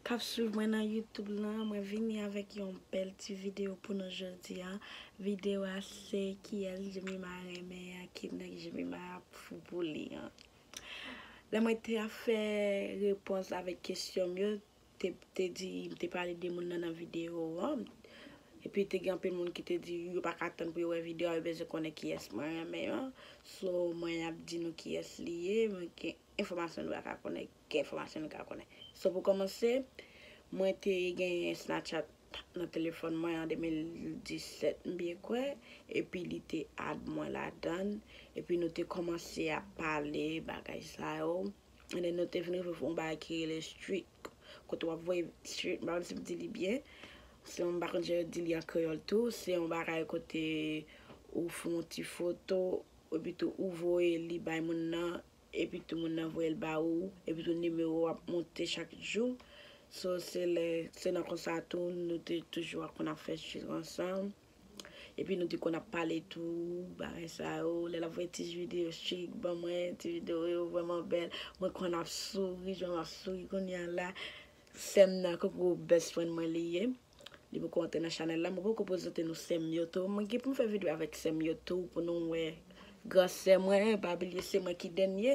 Kap swiv mwen nan YouTube lan, mwen vini avèk yon bèl ti video pou nou jodi a, video a se kiyès Jemima renmen an ki nèg Jemima ap fou pou li an. Lè mwen te ap fè repons avèk kesyon m yo, te di m te pale de moun nan nan video an, epi te gen anpil moun ki te di yo pa ka tann pou yo wè video a, yo bezwen konnen kiyès mwen renmen an, so mwen ap di nou kiyès li ye, mwen gen enfòmasyon nou pa ka konnen Ki enfòmasyon nou ka konnen? So pou kòmanse, mwen te genyen Snapchat nan telefòn mwen an 2017 m byen kwè, epi li te add mwen ladan l, epi nou te kòmanse ap pale bagay sa yo, and then nou te vin rive yon bagay ki rele streak, kote w ap voye streak, m pa konn si m di li byen, se yon, m pa konn jan yo di li an kreyòl tou, se yon bagay kote ou fè yon ti foto, epi tou ou voye li bay moun nan, epi tou moun nan voyel ba ou epi tou nimewo ou ap monte chak jou so se lè se nan konsa tou nou te toujou ap konn ap fè jus ansanm epi nou te konn ap pale tou bagay sa yo lè lap voye ti video chik ban mwen ti video yo vrèman bèl mwen konn ap souri jan map souri kounya la sèm nan koko best friend mwen li ye. Li poko antre nan chanèl la mwen poko prezante nou sèm yo tou mwen gen poum fè video avèk sèm yo tou pou nou wè gran sè mwen pa bliye se mwen ki dènye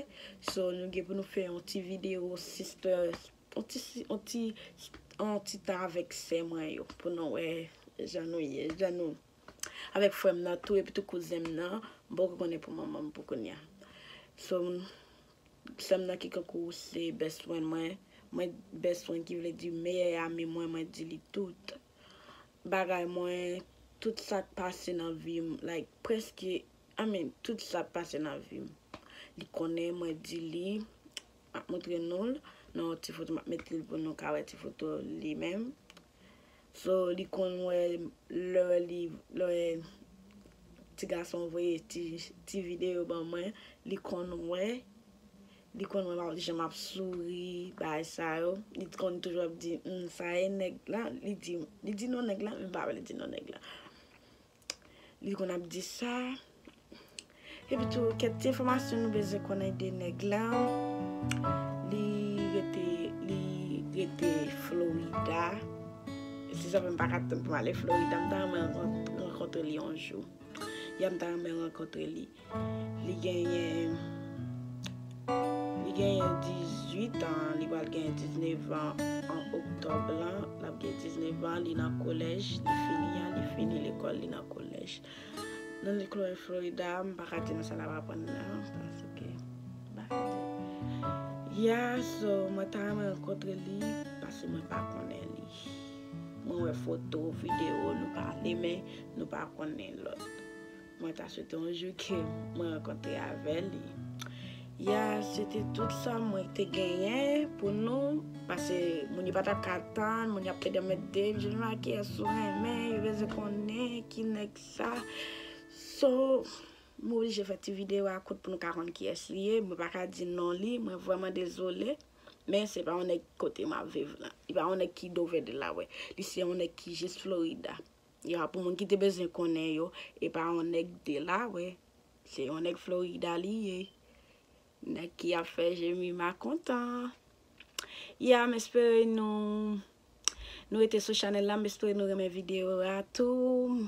so nou gen pou nou fè yon ti video sister yon ti yon ti yon ti tan avèk sè mwen yo pou nou wè jan nou ye jan nou avèk frèm nan tou epitou kouzenm nan mpoko konnen pou manmanm pou kounya so. Sèm nan ki kankou ou se best friend mwen Mwen best friend ki vle di meyè ami mwen mwen di li tout Bagay mwen tout sak pase nan vim like preske I mean tout sak pase nan vim Li konnen mwen di li Map montre noul nan yon ti foto map met li pou nou ka wè ti foto li menm So li konn wè lè li lè ti gason voye ti ti video ban mwen li konn wè li konn wè jan map souri bagay sa yo li t konn toujou ap di humm sa e nèg lan li di non nèg lan men m pa vle di non nèg lan. Li konn ap di sa. Epi tou kèk ti enfòmasyon nou bezwen konnen de nèg la. Li rete li rete Florida. Se sa fè m pa ka tann pou m ale Florida. M ta renmen rankontre li yon jou. Ya m ta renmen rankontre li. Li genyen Li genyen 18 ans li pral genyen 19 ans an octobre lan lap gen 19 ans li nan kolèj li fini an li fini lekòl li nan kolèj nan lekòl Florida m paka di nou sa lap aprann la paske m paka di ya so mwen ta renmen rankontre li paske mwen pa konnen li mwen wè foto video nou pale men nou pa konnen lòt. Mwen ta swete yon jou ke mwen rankontre avè li. Ya, se te tout sa mwen te genyen pou nou, pase moun yo pa tap ka tann, moun yo ap pede met de m, je ne ma kiyès ou renmen, yo bezwen konnen ki nèg sa. So, m oblije fè ti videyo a kout pou nou ka konn kiyès li ye, mwen pa ka di non li, mwen vrèman dezole, men se pa yon nèg kote map viv lan, li pa yon nèg ki Dover Delaware, li se yon nèg ki jis Florida. Ya pou moun ki te bezwen konnen yo epa yon nèg delawe se yon nèg florida li ye nèg ki ap fè jemima kontan ya m espere nou nou rete sou chanèl la m espere nou renmen video a tou